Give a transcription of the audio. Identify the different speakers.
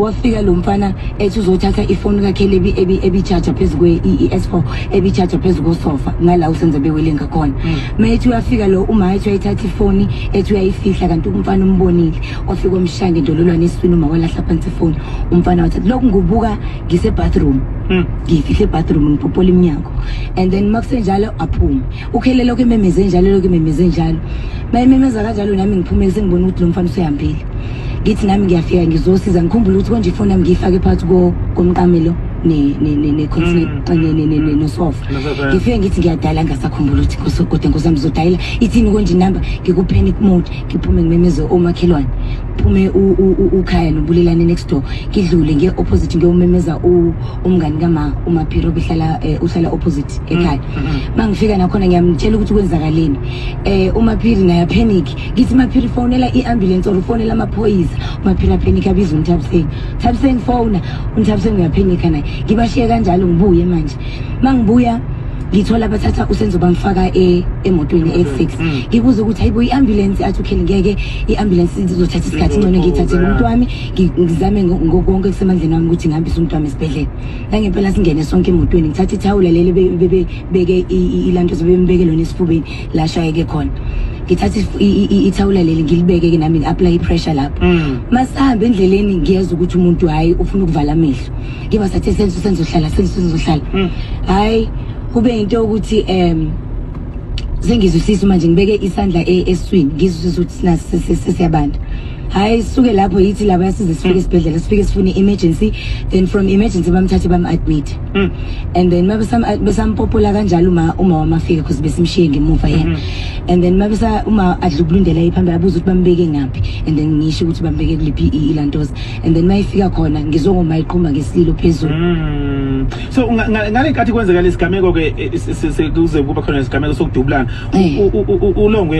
Speaker 1: wafika lo mfana ethi uzothatha ifoni kakhelebi ebichaja phezu kwe-es four ebichaja phezu kosofa ngala usenze bewele ngakhona mm. ma ethi uyafika lo uma ethi uyayithatha ifoni ethi uyayifihla kanti umfana umbonile wafika omshaya ngendololwane esiswini uma walahla phansi ifoni umfana wathatha lokhu ngubuka ngisebathroom mm. ngiyifihle ebathroom ngipopola iminyango and then uma kusenjalo aphume ukhele lokho ememeze njalo lokho ememeze njalo bayimemeza kanjalo nami ngiphumele sengibona ukuthi lo mfana usehambile ngithi nami ngiyafika ngizosiza ngikhumbula ukuthi konje ifoni yami ngiyifake phakathi komqamelo Mm. nosofa ngifike ngithi ngiyadala ngasakhumbula ukuthi kosogoda nkosi yami zodayela ithini konje inamba ngikupanic mode ngiphume ngimemeze omakhelwane phume ukhaya nobulelane next door ngidlule ngiye-opposite ngiyomemeza umngani kama umaphiro uhlala eh, uhlala opposite ekhaya mm. mangifika nakhona ngiyamtshela ukuthi kwenzakaleni eh umaphiri naye panic ngithi maphiri fonela iambulance or fonela amaphoyisa umaphiri apanic abiza unthabiseni thabiseni fona unthabiseni uyapanic naye ngibashiye kanjalo ngibuye manje mangibuya ngithola abathatha usenzo bamfaka e, emotweni e6 mm. ngibuza ukuthi hayibo iambulance athi ukheli ngeke iambulance izothatha isikhathi ngcono ngiyithathele umuntu wami ngizame ngokonke kusemandleni wami ukuthi ngihambise umuntu wami esibhedlela nangempela singene sonke emotweni ngithatha ithawula leli bebeke ilanto sebembeke lona esifubeni la shayeke khona ngithatha ithawula leli ngilibeke-ke nami ngi-apply i-pressure lapho mm. masihambe endleleni ngiyeza ukuthi umuntu hhayi ufuna ukuvala amehlo ngiba sathe senzo senzohlala senzo senzohlala mm. hhayi kube yinto yokuthi um sengizwisisa manje ngibeke isandla e-, eswini ngizwisisa ukuthi siyabanda hayi suke lapho yithi laba yasize sifike hmm. esibhedlela sifike sifune emergency then from emergency bamthathe bam admit hmm. and then mabesam besampopola kanjalo uma uma wamafika because besimshiye ngemuva yena hmm. and then mabesa uma adlukulundela iphambili abuza ukuthi bambeke ngaphi and then ngisho ukuthi bambeke kuliphi ilantoza and then mayifika khona ngizongoma iqhuma ngesilo phezulu so
Speaker 2: ngale nkathi kwenzeka lesigameko ke eh, sekuze kuba khona lesigameko sokudubulana eh. ulongwe